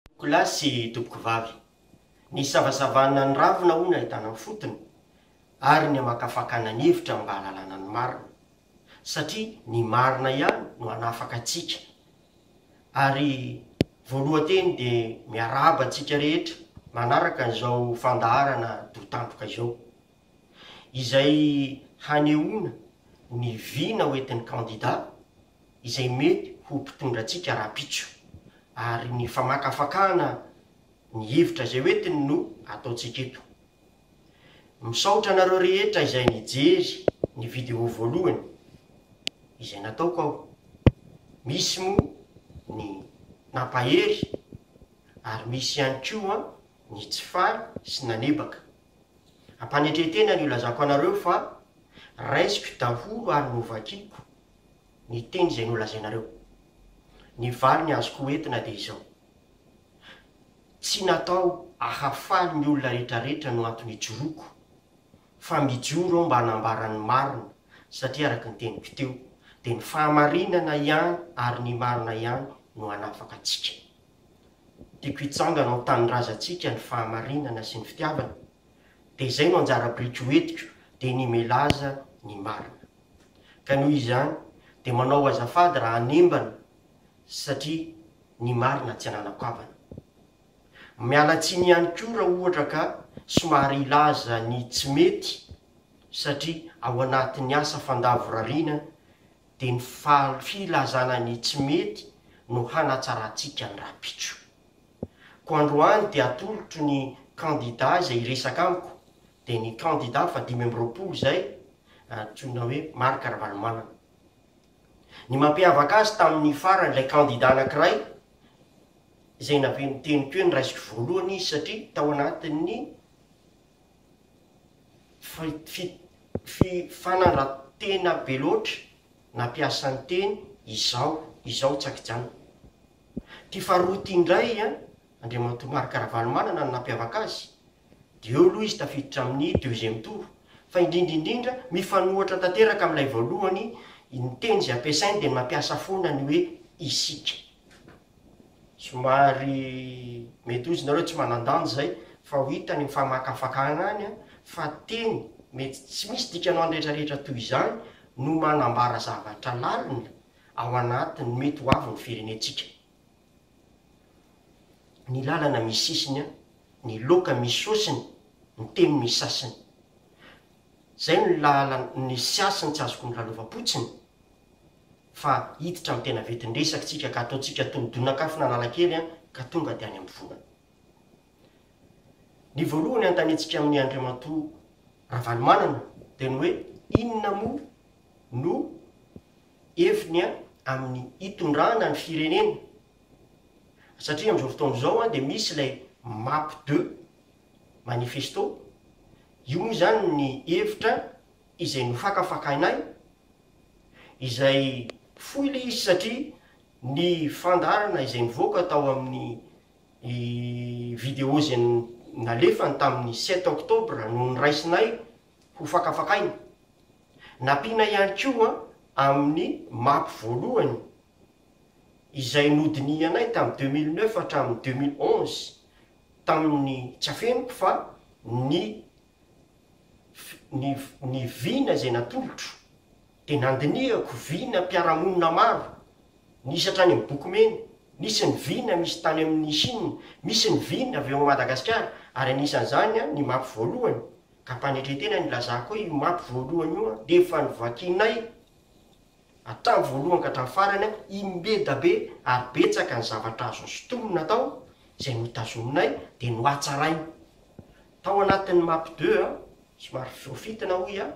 Tompokolahy sy tompokovavy, ny savasavana ny ravina hono ahitana ny fotony ary ny hamakafakana ny hevitra mba hahalalana ny marina, satria ny marina ihany no hanafaka antsika. Ary voalohan-teny dia miarahaba antsika rehetra manaraka an'izao fandaharana doha tandroka izao. izay hanehoana ny vina hoentin'ny kandida izay mety ho mpitondra antsika rahampitso, ary ny famakafakana ny hevitra izay hoentiny no ataontsika eto. Misaotra anareo rehetra izay nijery ny vidéo voalohany izay nataoko aho, misy moa ny nampahery ary misy ihany koa ny tsy faly sy nanebaka. Ampanetren-tena ny ilazako anareo fa raisiko daholo ary novakiko ny teny izay nolazainareo. Ny valiny azoko ho entina dia izao, tsy natao ahafaly ny olona rehetrarehetra no antony ijoroako fa mijoro aho mba hanambara ny marina satria araka ny teniko teo dia ny fahamarinana ihany ary ny marina ihany no hanafaka antsika. Tiako hitsangana ao an-tanindrazantsika ny fahamarinana sy ny fitiavana, dia izay no anjara biriky ho entiko dia ny milaza ny marina. Ka noho izany dia manao azafady raha hanembana satria ny marina tsy ananako havana. Miala tsiny ihany koa raha ohatra ka somary hilaza ny tsy mety satria ao anatin'ny asa fandavorariana dia ny filazana ny tsy mety no hanatsarantsika ny rahampitso. Koa androany dia atolotro ny kandida izay hiresaka amiko dia ny kandida fahadimy amby roapolo izay antsoina hoe Marc Ravalomanana. Ny mampiavaka azy tamin'ny farany ilay kandida anankiray izay naben'ny teniko hoe ny raisiko voalohany izy satria tao anatin'ny Fifanarantena be loatra na mpiasan-teny izao izao tsakijanona. Ity faharoa ity indray an, Andriamatoa Marc Ravalomanana no nampiavaka azy, dia eo aloha izy tafiditra amin'ny deuxième tour, fa indrindra indrindra mifanohitra tanteraka amin'ilay voalohany, ny teny izay ampiasainy dia ny mampiasa foana ny hoe isika. Somary mety hoy izy nareo tsy manan-danja izay fa ho hita ny mifamakafakana any an, fa teny mety tsy misy dikanao any rehetra rehetra toy izany no manambara zavatra lalina ao anatin'ny mety ho avy ny firenentsika. Ny lalana misy sisiny an, ny loka misy sosiny, ny teny misy sasiny. Izay no lalan, ny siasiny tsy azoko ny lalaovam-potsiny. fa hiditra amin'ny tena vetin-dresaktsika ka ataontsika toy ny donak'afo n'Analakely an, ka tonga dia any am-pivonana. Ny voalohany hanontaniantsika amin'i Andriamatoa Ravalomanana dia ny hoe inona moa no heviny an amin'ny hitondrana ny firenena, satria amin'izao fotoana izao an dia misy ilay map deux manifesto, io moa izany ny hevitra izay nofakafakainay izay fohy ilay izy satria ny fandaharana izay nivoaka tao amin'ny video izay nalefany tamin'ny sept octobre no noraisinay ho fakafakaina. Nampiana ihany koa amin'ny mapy voalohany izay nodinihanay tamin'ny deux mille neuf hatramin'ny deux mille onze tamin'ny tsy afeniko fa ny ny ny vina izay natolotro dia nandinihako vina mpiara-monina maro, nisy hatrany amin'ny boky mena, nisy ny vina misy tany amin'ny Chine, misy ny vina avy ao Madagasikara ary anisan'izany an ny mapy voalohany, ka ampanetren-tena ny hilazako hoe io mapy voalohany io an dia efa novakianay hatramin'ny voalohany ka hatramin'ny farany an, im-beda be ary betsaka ny zavatra azo sintomina tao izay notazominay dia nohatsaraina. Tao anatin'ny map deux an, somary voafintina hoy aho,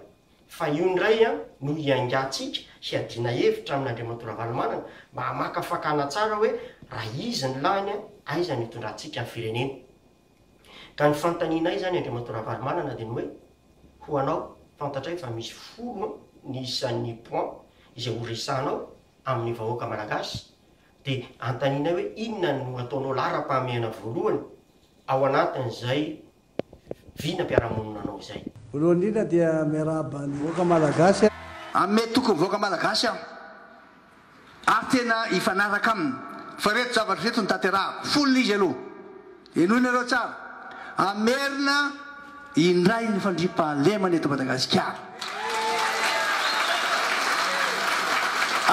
fa io indray an no hiaingantsika, hiadiana hevitra amin'Andriamatoa Ravalomanana mba hamakafakana tsara hoe raha izy ny lany an, aiza no hitondrantsika ny firenena. Ka ny fanontanianay izany Andriamatoa Ravalomanana dia ny hoe, ho anao, fantatray fa misy folo an ny isan'ny points izay horesahanao amin'ny vahoaka Malagasy Dia anontanianay hoe inona no ataonao laharam-pahamehana voalohany ao anatin'izay vinam-piarahamonina anao izay. Voalohany indrindra dia miarahaba ny vahoaka malagasy. Ame tokony vahoaka malagasy aho ary tena hifanaraka aminy fa reto zavatra reto no tanterahako, folo izy aloha. Henoinareo tsara, hamerina indray ny fandriampahalemana eto Madagasikara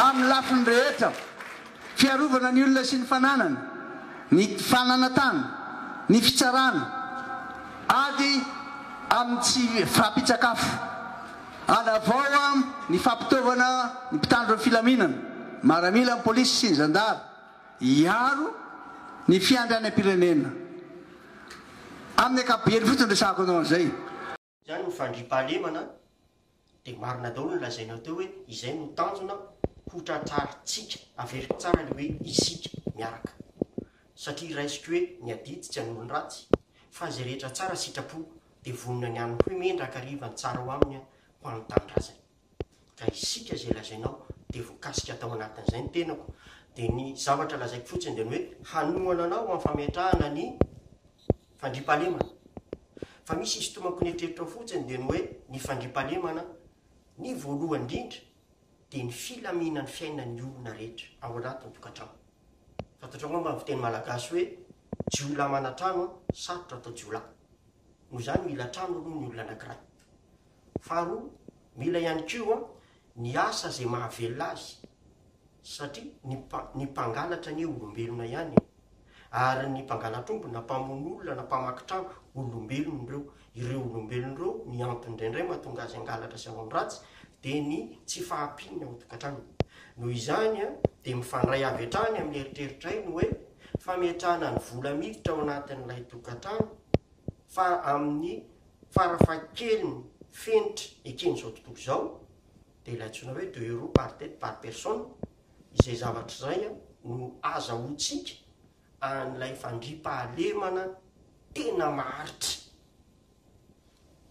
amin'ny lafiny rehetra, fiarovana ny olona sy ny fananany, ny fananantany, ny fitsarana, ady amin'ny tsy fahampian-tsakafo, hanavaoa ny fampitaovana ny mpitandro ny filaminana, maramila, ny polisy sy ny zandary. hiaro ny fiandrianam-pirenena. Amin'ny ankapobeny fotsiny resahako anao an'izay. Izany no fandriampahalemana dia marina daholo ny lazainao teo hoe izay no tanjona hotratrarintsika, averiko tsara ilay hoe isika miaraka satria raisiko hoe ny adidy tsy an'olon-dratsy fa izay rehetra tsara sitrapo dia vonona ny hanohy mendraka hariva ny tsara ho amin'ny ho an'ny tanindrazany. ka isika izay lazainao dia voakasika tao anatin'izay ny tenako, dia ny zavatra lazaiko fotsiny dia ny hoe hanohana anao amin'ny fametrahana ny fandriampahalemana, fa misy isintomako ny eritreritrao fotsiny dia ny hoe ny fandriampahalemana, ny voalohany indrindra dia ny filaminan'ny fiainan'ny olona rehetra ao anatin'ny tokantrano, fantatrao angamba ny fiteny malagasy hoe jiolahy manatrano an, sarotra atao jiolahy, noho izany mila trano aloha ny olona anankiray. Faharoa, mila ihany koa ny asa izay mahavelona azy, satria ny ny mpangalatra anie olombelona ihany e! Ary ny mpangalatr'omby na mpamono olona na mpamaky trano, olombelona ireo. Ireo olombelona ireo, ny antony indraindray mahatonga azy hangalatra sy hanao ny ratsy, dia ny tsy fahampian'ny ao an-tokantranony. Noho izany an, dia mifandray avy hatrany amin'ny eritreritray ny hoe, fametrahana ny vola miditra ao anatin'ilay tokantrano, fa amin'ny farafahakeliny fenitra eken'izao tontolo izao dia ilay antsoina hoe deux euros par tête par personne, izay zavatra izay no azahoantsika an'ilay fandriampahalemana tena maharitra.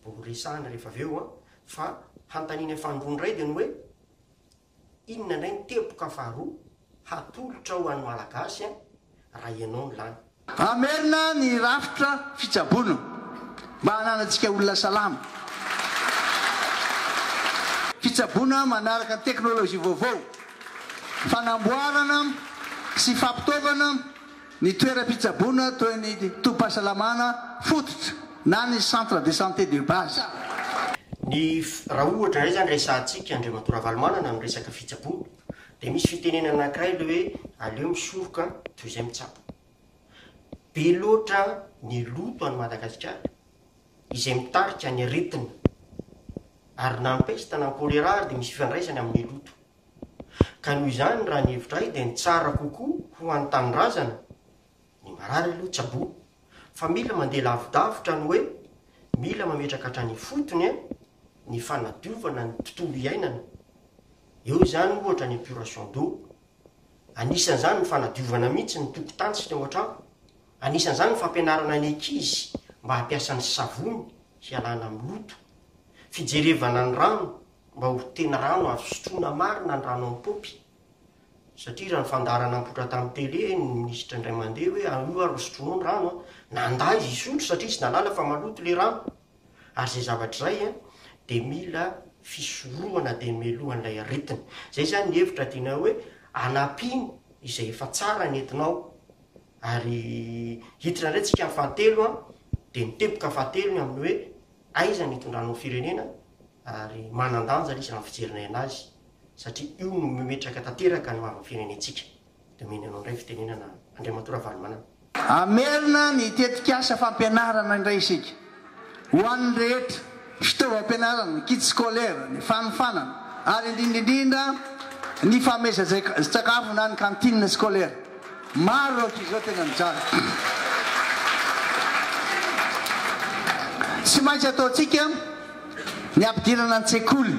Vao horesahana rehefa avy eo fa hanontanianay fahandroa indray dia ny hoe. Inona indray ny teboka faharoa hatolotra ho an'ny Malagasy an, raha ianao no lany. Hamerina ny rafitra fitsaboana mba hananantsika olona salama. Fitsaboana manaraka ny teknolojia vaovao, fanamboarana sy fampitaovana. Ny toeram-pitsaboana toy ny tobim-pahasalamana fototra na ny centre de santé de base. Ny raha ohatra indray izany resahantsika Andriamatoa Ravalomanana ny resaka fitsaboana dia misy fitenenana anankiray ilay hoe aleo misoroka toy izay mitsabo. Be loatra ny loto any Madagasikara izay mitarika ny aretina ary na ny pesta na ny choléra ary dia misy ifandraisany amin'ny loto. Ka noho izany raha ny hevitra ahy dia ny tsara kokoa ho an'ny tanindrazana, ny marary aloha tsaboa, fa mila mandeha lavidavitra ny hoe mila mametraka hatrany ifotony ny fanadiovana ny tontolo iainana. Eo izany ohatra ny épuration d'eau. Anisan'izany ny fanadiovana mihitsy ny tokotantsika ao an-trano. Anisan'izany ny fampianarana ny ankizy mba hampiasa ny savony hialana amin'ny loto. Fijerevana ny rano mba ho tena rano azo sotroina marina ny rano am-paompy satria raha ny fandaharana nipoitra tamin'ny tele ny minisitra indray mandeha hoe ah, io ary no sotroinao ny rano an, nandà izy hisotro satria izy nahalala fa maloto ilay rano ary izay zavatra izay an dia mila fisorohana dia melohan'ilay aretina. Izay izany ny hevitra tianay hoe anampino izay efa tsara ny entinao ary hiditra indray tsika amin'ny fahatelo an dia ny teboka fahatelo ny amin'ny hoe Aiza ny itondranao firenena ary manandanja izy raha ny fijerinay anazy satria io no memetraka tanteraka ny maha firenentsika. Domeny anao indray fitenenana Andriamatoa Ravalomanana. Hamerina ny tetikasa fampianarana indray isika ho an'ny rehetra, fitaovam-pianarana, kit scolaire, ny fanofanana ary indrindra indrindra ny famezatsakafo na ny cantine scolaire. Maro rahatrizao tena mijaly. Tsy maintsy ataontsika ny ampidirana an-tsekoly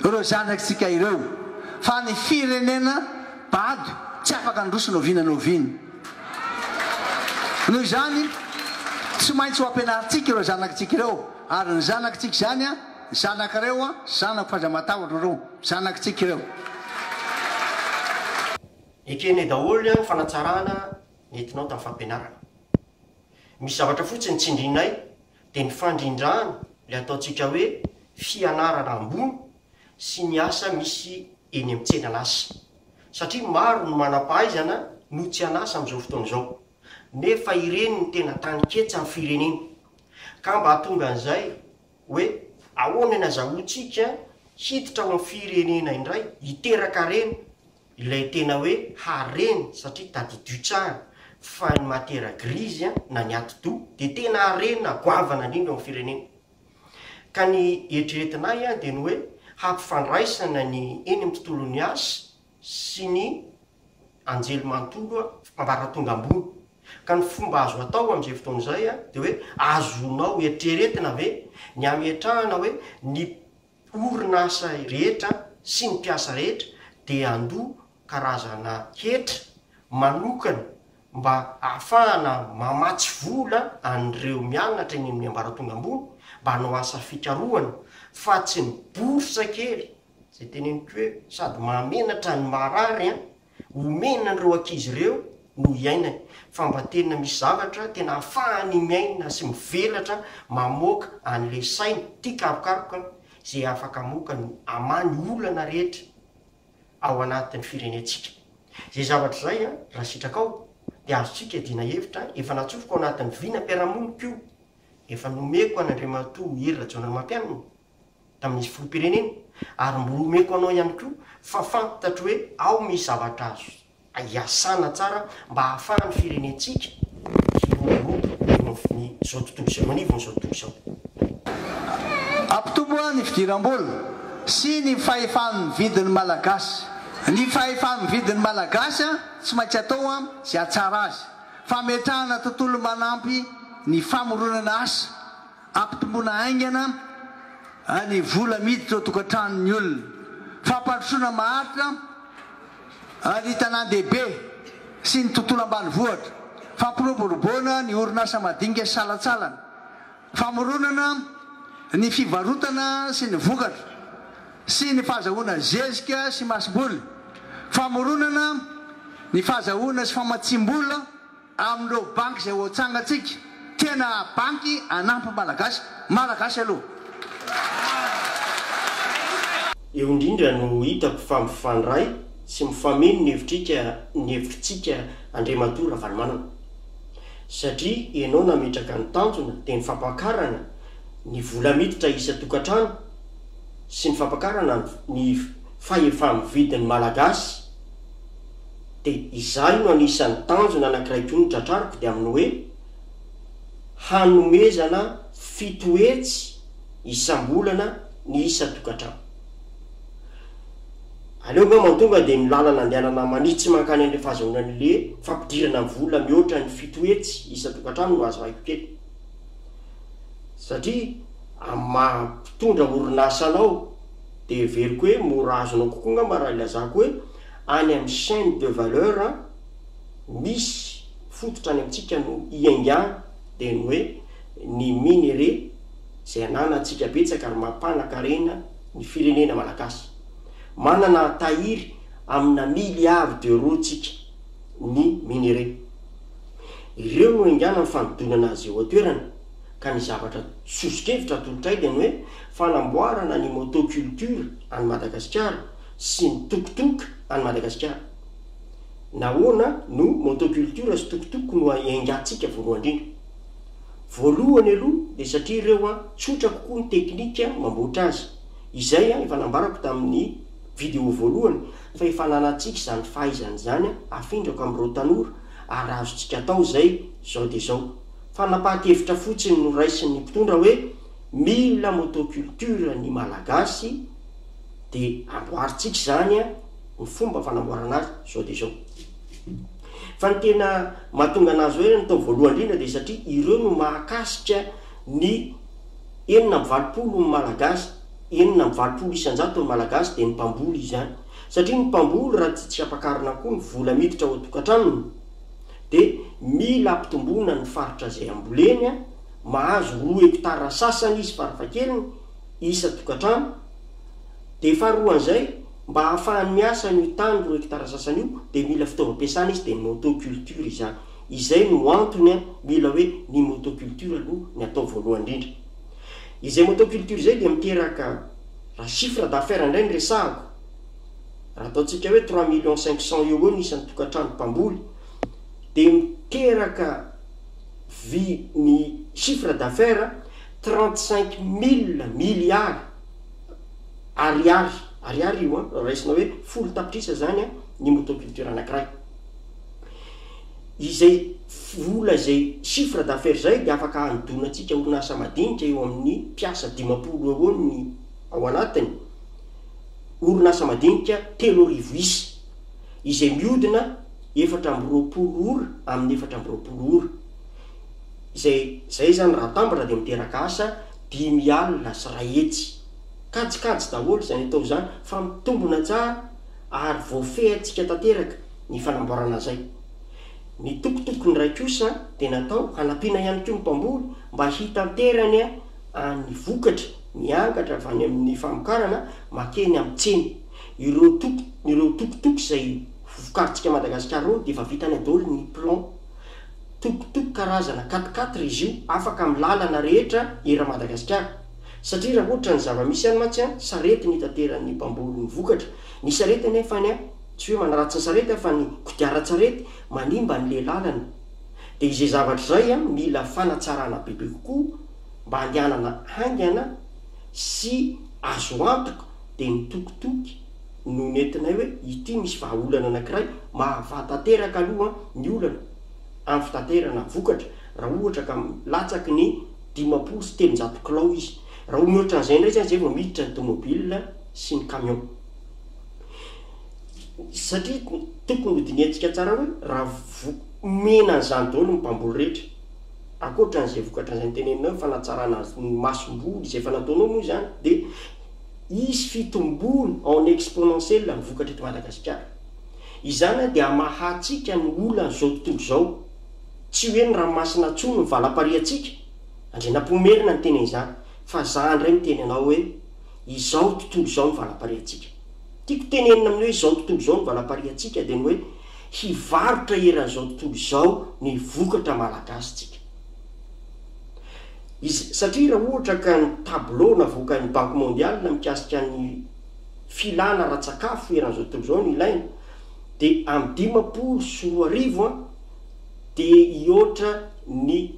ireo zanatsika ireo fa ny firenena bado tsy afaka handroso noviana noviana. Noho izany tsy maintsy ho ampianarintsika ireo zanatsika ireo ary ny zanatsika izany a zanakireo a zanako f'aza matahotra ireo zanatsika ireo. Ekene daholo an ny fanatsarana nentinao tam fampianarana. Misy zavatra fotsiny tsindrinay de ny fandrindrana le ataontsika hoe fianarana ambony sy ny asa misy eny am tsena an asa. Satria maro ny manampahaizana no tsy an asa am zao fotoana izao. Nefa ireny no tena tany ketsa am firenena. Ka mba hatonga an zay hoe ahoana ny azahoantsika hiditra ao am firenena indray hiteraka harena Ilay tena hoe harena satria tadidio tsara fa ny matiera grise an, na ny atidoha dia tena harena goavana indrindra ao amin'ny firenena. Ka ny eritreretinay an dia ny hoe hampifandraisana ny eny amin'ny tontolon'ny asa sy ny anjely manontolo an, ambaratonga ambony. Ka ny fomba azo atao amin'izay fotoana izay an dia hoe azonao eritreretina ve ny hametrahana hoe ny. orinasa rehetra sy ny mpiasa rehetra dia handoa karazana hetra manokana mba hahafahana mamatsy vola an'ireo mianatra eny amin'ny ambaratonga ambony mba hanao asa fikarohana fa tsy ny bourse kely, izay teneniko hoe sady mahamenatra no maharary an! Omena an'ireo ankizy ireo no hiainany, fambatena misy zavatra tena ahafahany miaina sy mivelatra mamoaka an'ilay sainy tia karokaroka izay afaka hamoaka ny amany olana rehetra ao anatin'ny firenentsika. Izay zavatra izay an, raha sitrakao dia azontsika iadiana hevitra, efa natsofoko ao anatin'ny vinam-piarahamoniko io, efa nomeko an'Andriamatoa Hery Rajaonarimampianina. tamin'izy filoham-pirenena ary mbola omeko anao ihany koa fa fantatro hoe ao misy zavatra azo iasana tsara mba hahafahan'ny firenentsika hiroborobo eo amin'izao tontolo izao, eo anivon'izao tontolo izao. Hampitombo ny fidiram-bola sy ny fahefa-mividy ny Malagasy. Ny fahefa-mividy ny Malagasy tsy maintsy atao izay hahatsara azy. Fametrahana tontolo manampy ny famoronana asa. Ampitomboina haingana ny vola miditra ao an-tokantranon'ny olona. Fampandrosoana maharitra ny tanàn-dehibe sy ny tontolo ambanivohitra. Fampiroboroboana ny orinasa madinika sy salantsalany. Famoronana ny fivarotana sy ny vokatra sy ny fahazahoana zezika sy masomboly. Famoronana ny fahazahoana sy famatsiam-bola. Amin'ireo banky izay hoatsangantsika, tena banky hanampy ny Malagasy, Malagasy aloha. Eo indrindra no hitako fa mifandray sy mifameno ny hevitrika ny hevitritsika Andriamatoa Ravalomanana. Satria ianao nametraka ny tanjona dia ny fampakarana ny vola miditra isan-tokantrano sy ny fampakarana ny fahefa-mividin'ny Malagasy. Dia izaho io no anisan'ny tanjona anankiray koa notratrariko dia amin'ny hoe, hanomezana fito hetsy isam-bolana ny isan-tokantrano. Aleo angamba ny tonga dia ny lalana andehanana manitsy mankany amin'ilay fahazahoanan'ilay fampidirana vola mihoatra ny fito hetsy isan-tokantrano no azo ahiko kely. Satria amin'ny maha mpitondra orinasa anao dia heveriko hoe mora azonao kokoa angamba raha ilazako hoe, Any amin'ny chaine de valeur misy fototra any amintsika no iaingana dia ny hoe ny minerais izay ananantsika betsaka ary mampanakarena ny firenena malagasy. Manana tahiry amina milliards d'euros tsika ny minerais. Ireo no iaingana ny fanodonana azy eo an-toerana ka ny zavatra soso-kevitra atolotray dia ny hoe fanamboarana ny motoculture any Madagasikara, sy ny tok tok any Madagasikara. Nahoana no motoculture sy tok tok no engantsika voalohandrindra? Voalohany aloha dia satria ireo an tsotra kokoa ny teknika mamboatra azy, izay an efa nambarako tamin'ny video voalohany fa efa ananantsika izany fahaizana izany an afindrako amin'ireo tanora ary azontsika atao izay izao dia izao. Fanapahan-kevitra fotsiny no raisin'ny mpitondra hoe mila motoculture ny Malagasy, dia amboarintsika izany an, ny fomba fanamboarana azy izao dia izao. Fa ny tena mahatonga anazy hoe ny tao voalohany indrindra dia satria ireo no mahakasika ny enina amby valopolo ny malagasy, enina amby valopolo isan-jato ny malagasy dia ny mpamboly izany. Satria ny mpamboly raha tsy tsy ampakarina koa ny vola miditra ao an-tokantranony dia mila ampitomboina ny faritra izay amboleny an, mahazo roa hectare sasany izy farafahakeliny isa-tokantrano, Dia faharoan'izay, mba hahafahany miasa an'io tany roa hectares sasany io, dia mila fitaovam-piasana izy, dia ny motoculture izany. Izay no antony an, mila hoe ny motoculture aloha ny atao voalohany indrindra. Izay motoculture izay dia miteraka, raha chiffre d'affaires indray no resahako, raha ataontsika hoe trois millions cinq cents eo ho eo ny isan'ny tokantrano mpamboly, dia miteraka vy ny chiffre d'affaires, Trente cinq mille milliards Ariary, Ariary io an, raha raisina hoe folo tapitrisa izany an, ny motoculture anankiray. Izay vola izay chiffre d'affaires izay dia afaka hanodonantsika orinasa madinika eo amin'ny mpiasa dimampolo eo eo ny ao anatiny, orinasa madinika telo arivo isa, izay mihodina efatra amby roapolo ora amin'ny efatra amby roapolo ora. Izay izay izany raha atambatra dia miteraka asa dimy alina sy iray hetsy. Kajikajy daholo izany atao izany fa mitombona tsara ary voafehintsika tanteraka ny fanamboarana izay. Ny tokotokony iray kosa dia natao hanampiana ihany koa ny mpamboly mba hitanterany ny vokatra miangatra avy any amin'ny famokarana makeny amin'ny tsena. Ireo toko ireo tokotoko izay ho vokarintsika Madagasikara ireo dia efa vitany daholo ny plan. Tokotoko karazana quatre quatre izy io afaka amin'ny lalana rehetra era Madagasikara satria raha ohatra ny zava-misy any mantsy an, sarety no itateran'ny mpamboly ny vokatra, ny sarety anefany an, tsy hoe manaratsy ny sarety an fa ny kodiaran-tsarety manimba an'ilay lalana, dia izay zavatra izay an mila fanatsarana bebe kokoa mba handehanana haingana sy azo antoka dia ny tokotoky, no nentinay hoe ity misy vahaolana anankiray mahavaha tanteraka aloha ny olana amin'ny fitaterana vokatra raha ohatra ka latsaky ny dimampolo sy telonjato kilao izy. Raha ho mihoatra an'izay indray izany izay vao miditra ny tomobile sy ny camion. Satria tokony ho dinihantsika tsara hoe raha vo omena an'izany daholo ny mpamboly rehetra, ankoatra an'izay vokatra izay noteneninao hoe fanatsarana ny masomboly izay efa nataonao moa izany dia, Hisy fitomboana en exponentiel ny vokatra eto Madagasikara. Izany dia hamahantsika ny olan'izao tontolo izao. Tsy hoe ny ranomasina intsony no valapariantsika, Andrianampoinimerina no niteny an'izany, fa za indray miteny anao hoe izao tontolo izao no valapariantsika. Tiako tenenina amin'ny hoe izao tontolo izao no valapariantsika dia ny hoe hivarotra eran'izao tontolo izao ny vokatra malagasy tsika. Izy, satria raha ohatra ka ny tableau navoakan'ny Banque Mondiale mikasika ny filana ara-tsakafo eran'izao tontolo izao no ilaina dia amin'ny dimampolo sy roa arivo an, dia hihoatra ny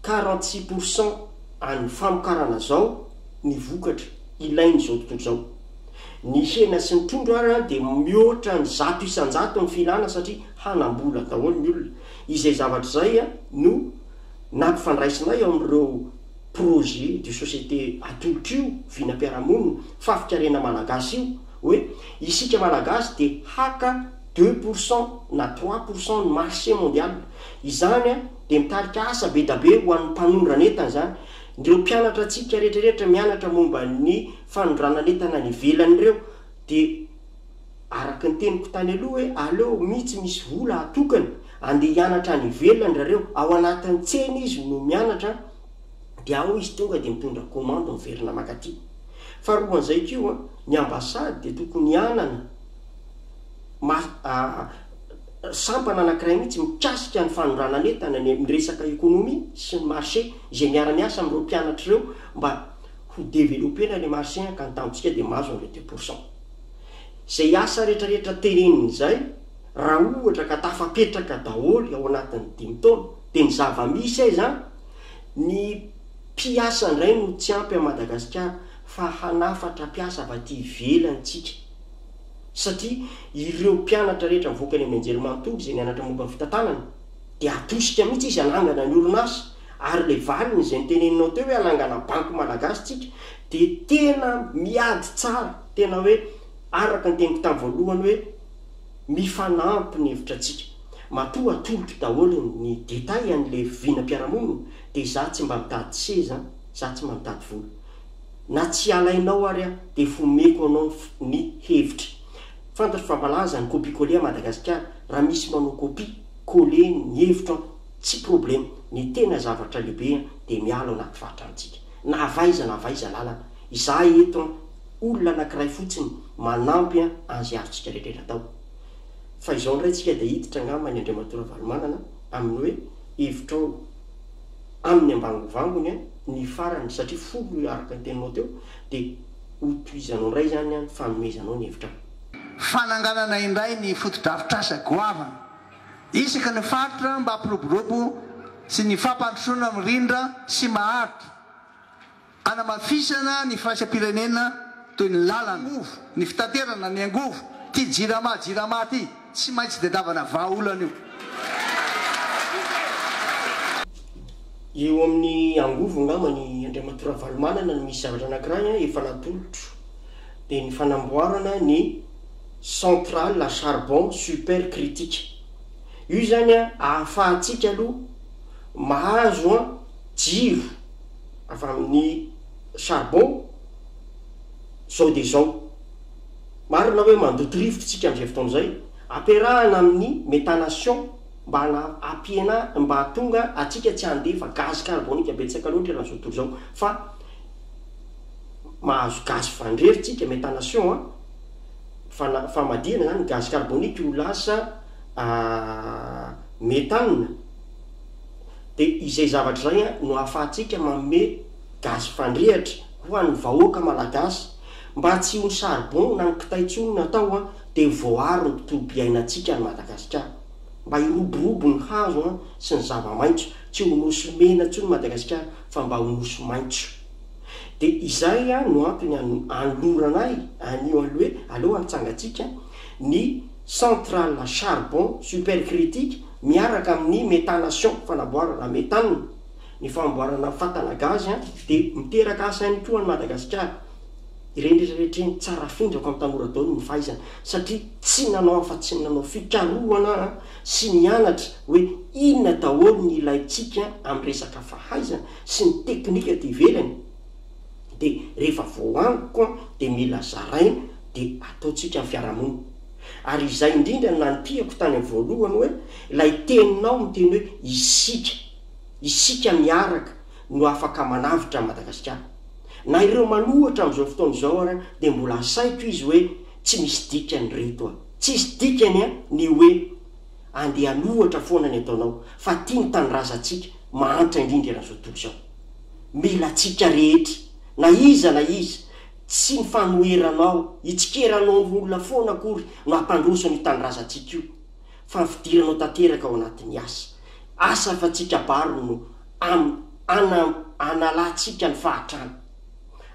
quarante six pour cent an'ny famokarana izao ny vokatra ilain'izao tontolo izao. Ny hena sy ny trondro ary an dia mihoatra ny zato isan-jato ny filana satria hanam-bola daholo ny olona, izay zavatra izay an no. Nampifandraisinay ao amin'ireo projets de société atolotro io vinam-piarahamonina fafikarena malagasy io hoe isika malagasy dia haka deux pour cent na trois pour cent ny marché mondial. Izany dia mitarika asa bedabe ho an'ny mpanondran'entana izany. Ireo mpianatra antsika rehetrarehetra mianatra momba ny fanondranan'entana any ivelany ireo dia. Araky ny teniko tany aloha hoe aleo mihi tsy misy vola atokany andeha hianatra any ivelany rareo, ao anatin'ny tsena izy no mianatra dia ao izy tonga dia mitondra commande miverina makaty. Faharoan'izay koa ny ambassade dia tokony hanana mar sampana anakiray mihitsy mikasika ny fanondranan'entana ny amin'ny resaka economie sy ny marché izay miara miasa amin'ireo mpianatra ireo mba ho developena ilay marché ka ny tanjontsika dia mahazo an'ilay deux pour cent. Izay asa rehetrarehetra teneniny izay, raha ohatra ka tafapetraka daholo ao anatin'ny dimy taona, dia ny zava-misy aiza an? Ny mpiasa indray no tsy ampy an'i Madagasikara fa hanafatra mpiasa avy aty ivelany isika. Satria ireo mpianatra rehetra mivoaka any amin'ny anjerimanontolo izay nianatra momba ny fitantanana dia atosika mihitsy izy hanangana ny orinasa Ary le valiny izay niteneninao teo hoe hanangana banky malagasy tsika dia tena miady tsara, tena hoe araka ny teniko tamin'ny voalohany hoe mifanampy ny hevitra antsika. Matoa atolotro daholo ny détails an'le vinam-piarahamonina dia izaho tsy mba mitady seza an, izaho tsy mba mitady vola. Na tsy alainao ary aho dia efa omeko anao ny ny hevitra. Fantatro fa malaza ny copie-coller à Madagasikara, raha misy manao copie, coller ny hevitro an. Tsy problème, ny tena zavatra lehibe an dia miala ao anaty fahatrantsika. Na avy aiza na avy aiza lalana, izahay eto an, olona anakiray fotsiny manampy an anzy havintsika rehetra atao. Fa izao indray tsika dia hiditra angamba any Andriamatoa Ravalomanana amin'ny hoe hevitrao aminy ambangovangony an ny farany satria folo araka ny teninao teo dia ho tohizanao indray izany an ny fanomezanao ny hevitrao. Fananganana indray ny fotodrafitrasa goavana Isaky ny faritra mba hampiroborobo sy ny fampandrosoana mirindra sy maharitra, hanamafisana ny firaisam-pirenena toy ny lalana, angovo, ny fitaterana, ny angovo, ity jirama jirama ity tsy maintsy tedavana vahaolana io. Eo amin'ny angovo angamba ny Andriamatoa Ravalomanana no misy zavatra anankiray efa natolotro dia ny fanamboarana ny. centrale à charbon super critique. Io izany an, ahafahantsika aloha mahazo an jiro avy amin'ny charbon izao dia izao. Marina hoe mandoto rivotra isika amin'izay fotoana izay, ampiarahana amin'ny méthanation mba hana hampiena mba hahatonga antsika tsy handefa gaz carbonique betsaka loatra eran'izao tontolo izao fa mahazo gaz fandrehitra isika, méthanation an. fana famadihana izany ny gaz carbonique ho lasa méthane dia izay zavatra izay an no ahafahantsika manome gaz fandrehatra ho an'ny vahoaka malagasy mba tsy ho ny charbon na ny kitay intsony no atao an dia voaaro ny tontolo piainantsika any Madagasikara mba hiroborobo ny hazo an sy ny zava-maitso tsy ho nosy mena intsony Madagasikara fa mba ho nosy maitso. Dia izay no antony anoloranay an'io an'ilay hoe aleo anntsangantsika ny centrale à charbon supercritique miaraka amin'ny méthanation, fanamboarana méthane, ny fanamboarana fatana gazy dia miteraka asa ihany koa an'i Madagasikara. Ireny rehetra rehetra ireny tsara afindrako amin'ny tanora daholo ny fahaizany satria tsy nanao afa-tsy ny nanao fikarohana sy nianatra hoe inona daholo ny ilaintsika amin'ny resaka fahaizana. sy ny teknika aty ivelany de rehefa voahaniko an de mila zaraina de ataontsika ny fiarahamonina ary izay indrindra no nanipihako tany amin'ny voalohany hoe ilay teninao miteny hoe isika, isika miaraka no afaka manavotra an'i Madagasikara. Na ireo manohitra amin'izao fotoana izao ary dia mbola asaiko izy hoe tsy misy dikany ireto an, tsisy dikany an ny hoe. Andian'ohatra foana ny ataonao fa tia ny tanindrazantsika mahantra indrindra eran'izao tontolo izao. Mila antsika rehetra, na iza na iza, tsy ny fanoheranao, hitsikeranao ny olona foana akory no hampandroso an'io tanindrazantsika io, fa ny fidiranao tanteraka ao anatin'ny asa. Asa afa tsy kabary no am, ana, analantsika ny fahatrana.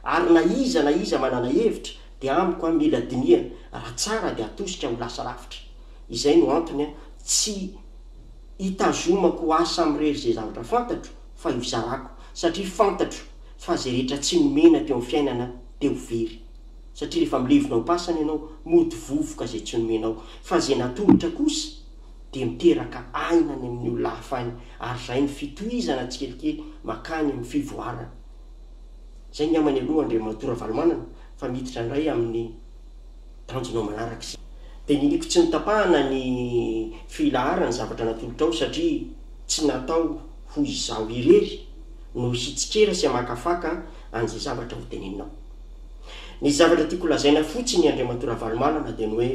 Ary na iza na iza manana hevitra dia amiko an mila dinihana raha tsara dia atosika ho lasa lavitra. Izay no antony aho tsy itazomako asa amirery izay zavatra fantatro fa io zarako satria fantatro fa izay rehetra tsy nomena teo amin'ny fiainana dia ho very satria rehefa milevina ampasana ianao mody vovoka izay tsy nomenao fa izay natolotra kosa dia miteraka aina any amin'ny olona hafa any ary izay ny fitohizana tsikelikely makany amin'ny fivoarana. Izay ngambany aloha Andriamatoa Ravalomanana fa miditra indray amin'ny. Tanjonao manaraka izay. Dinihiko tsy notapahana ny filaharan'ny zavatra natolotrao satria tsy natao ho izaho irery no hitsikera sy hamakafaka an'izay zavatra hoteneninao. Ny zavatra tiako lazaina fotsiny Andriamatoa Ravalomanana dia ny hoe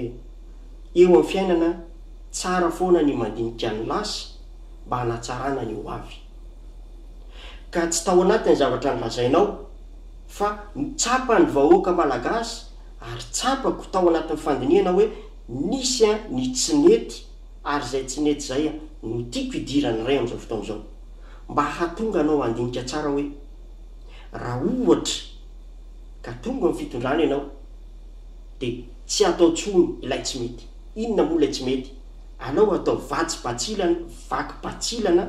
eo amin'ny fiainana tsara foana ny mandinika ny lasa mba hanatsarana ny ho avy. Ka tsy tao anatin'ny zavatra nolazainao, Fa tsapan'ny vahoaka Malagasy ary tsapako tao anatin'ny fandinihana hoe nisy ny tsy nety ary izay tsy nety izay no tiako hidiran'ny Ray amin'izao fotoana izao. Mba hahatonga anao handinika tsara hoe raha ohatra ka tonga amin'ny fitondrana ianao dia tsy hatao intsony ilay tsy mety. Inona moa ilay tsy mety? Alao hatao vatsibantsilana, vaky bantsilana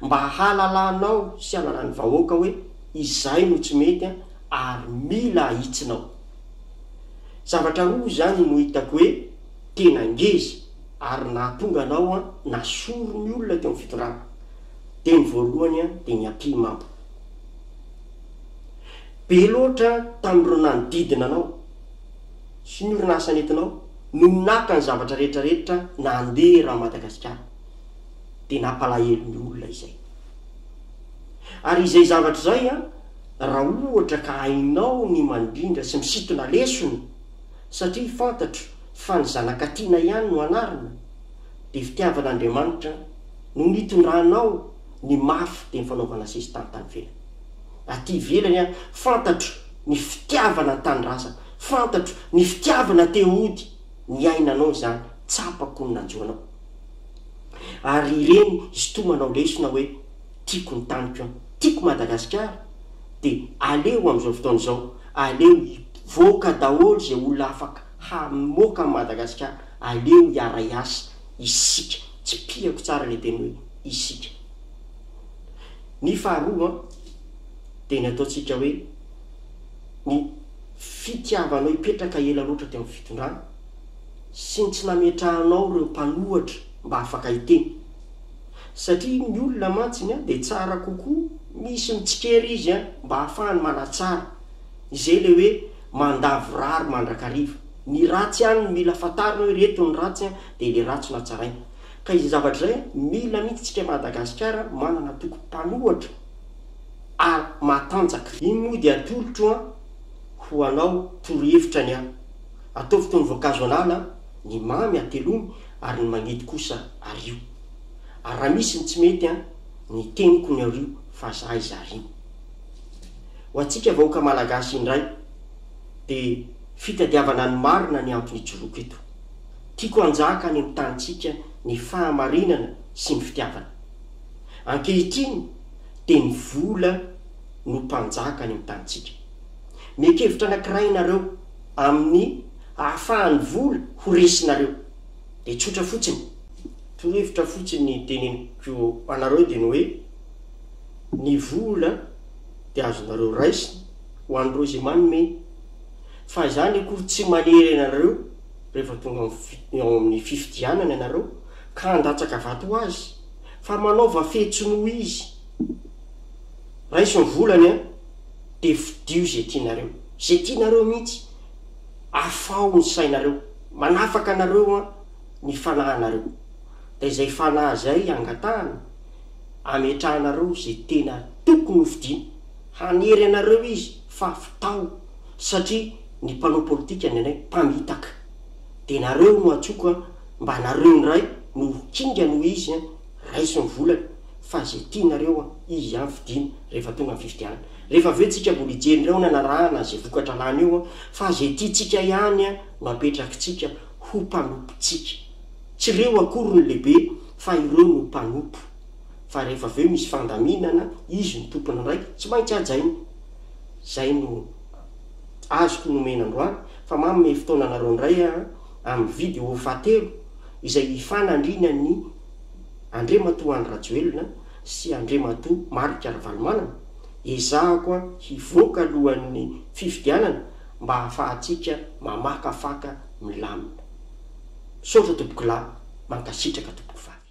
mba hahalalanao sy hahalalan'ny vahoaka hoe. Izay no tsy mety an, ary mila ahitsinao. Zavatra roa izany no hitako hoe tena ngeza ary nahatonga anao an na sory ny olona teo amin'ny fitondrana. Dia ny voalohany an dia ny ampy mamba. Be loatra tamin'ireo nanodidina anao sy ny orinasa nentinao no naka ny zavatra rehetra rehetra nandeha eran'i Madagasikara. Dia nampalahelo ny olona izay. Ary izay zavatra izay an, raha ohatra ka hainao ny mandrindra sy misintona lesona, satria fantatro fa ny zanakatiana ihany no anarina, dia fitiavan'Andriamanitra no nitondranao ny mafy dia ny fanaovana sesitany tany ivelany. Aty ivelany an, fantatro ny fitiavana ny tanindrazana, fantatro ny fitiavana te-hody, niainanao izany, tsapako ny nanjo anao. Ary ireny histoa manao lesona hoe tiako ny taniko an, tiako Madagasikara dia aleo amin'izao fotoana izao aleo hivoaka daholo izay olona afaka hamoaka an'i Madagasikara, aleo hiara hiasa isika, tsipihako tsara ilay teny hoe isika. Ny faharoa an, dia ny ataontsika hoe ny fitiavanao hipetraka ela loatra teo amin'ny fitondrana, sy ny tsy nametrahanao ireo mpanohatra mba afaka hiteny. Satria ny olona mantsy ny an dia tsara kokoa misy mitsikera izy an mba hahafahany manatsara. Izay ilay hoe mandà vorary mandrakariva. Ny ratsy ihany no mila fantarina hoe ireto ny ratsy an dia ilay ratsy no hatsaraina. Ka izay zavatra izay an mila mihitsy tsika Madagasikara an manana toko mpanohatra ary matanjaka. Iny moa dia atolotro an ho anao torohevitra ny an. Ataovy toy ny voankazo anana, ny mamy atelomy ary ny mangidy kosa ario. Ary raha misy ny tsy mety an, ny teniko ny ario fa za iza ario. Ho antsika vahoaka malagasy indray dia fitadiavana ny marina ny antony ijoroako eto. Tiako hanjaka any amin'ny tanintsika ny fahamarinana sy ny fitiavana. Ankehitriny dia ny vola no mpanjaka any amin'ny tanintsika. Miekevitra anankiray ianareo. amin'ny ahafahan'ny vola ho resinareo. Dia tsotra fotsiny. Torohevitra fotsiny ny teneniko anareo dia ny hoe, ny vola dia azonareo raisina ho an'ireo izay manome, fa izany akory tsy manery anareo rehefa tonga ao amin'ny ao amin'ny fifidianana ianareo ka handatsaka vato ho azy, fa manaova fetsy noho izy. Raiso ny volany an! Dia fidio izay tianareo. Izay tianareo mihitsy. Afaho ny sainareo. Manafaka anareo an ny fanahinareo. Dia izay fanahy izay angatahany, ametrahanareo izay tena tokony ho fidiana. Hanery anareo izy fa fitaho satria ny mpanao politika ny anay mpamitaka. Dia nareo no antsoiko an, mba nareo indray no ho kingana hoy izy an. raiso ny volana fa izay tianareo an, izy ihany fidiana rehefa tonga ny fifidianana. Rehefa avy eo tsika mbola hijery indray ho nanarahana izay vokatra lany eo an, fa izay tiantsika ihany an no apetrakitsika ho mpanompontsika. Tsy ireo akory no lehibe fa ireo no mpanompo. Fa rehefa avy eo misy fandaminana, izy no tompony indray, tsy maintsy hajaina. Izay no azoko nomena androany, fa manome fotoana anareo indray aho an. Amin'ny vidéo fahatelo izay hifanandriana ny Andriamatoa Andry Rajoelina sy Andriamatoa Marc Ravalomanana, ezahako hivoaka alohan'ny fifidianana mba hahafahantsika mamakafaka milamina. Misaotra tompokolahy, mankasitraka tompoko vavy.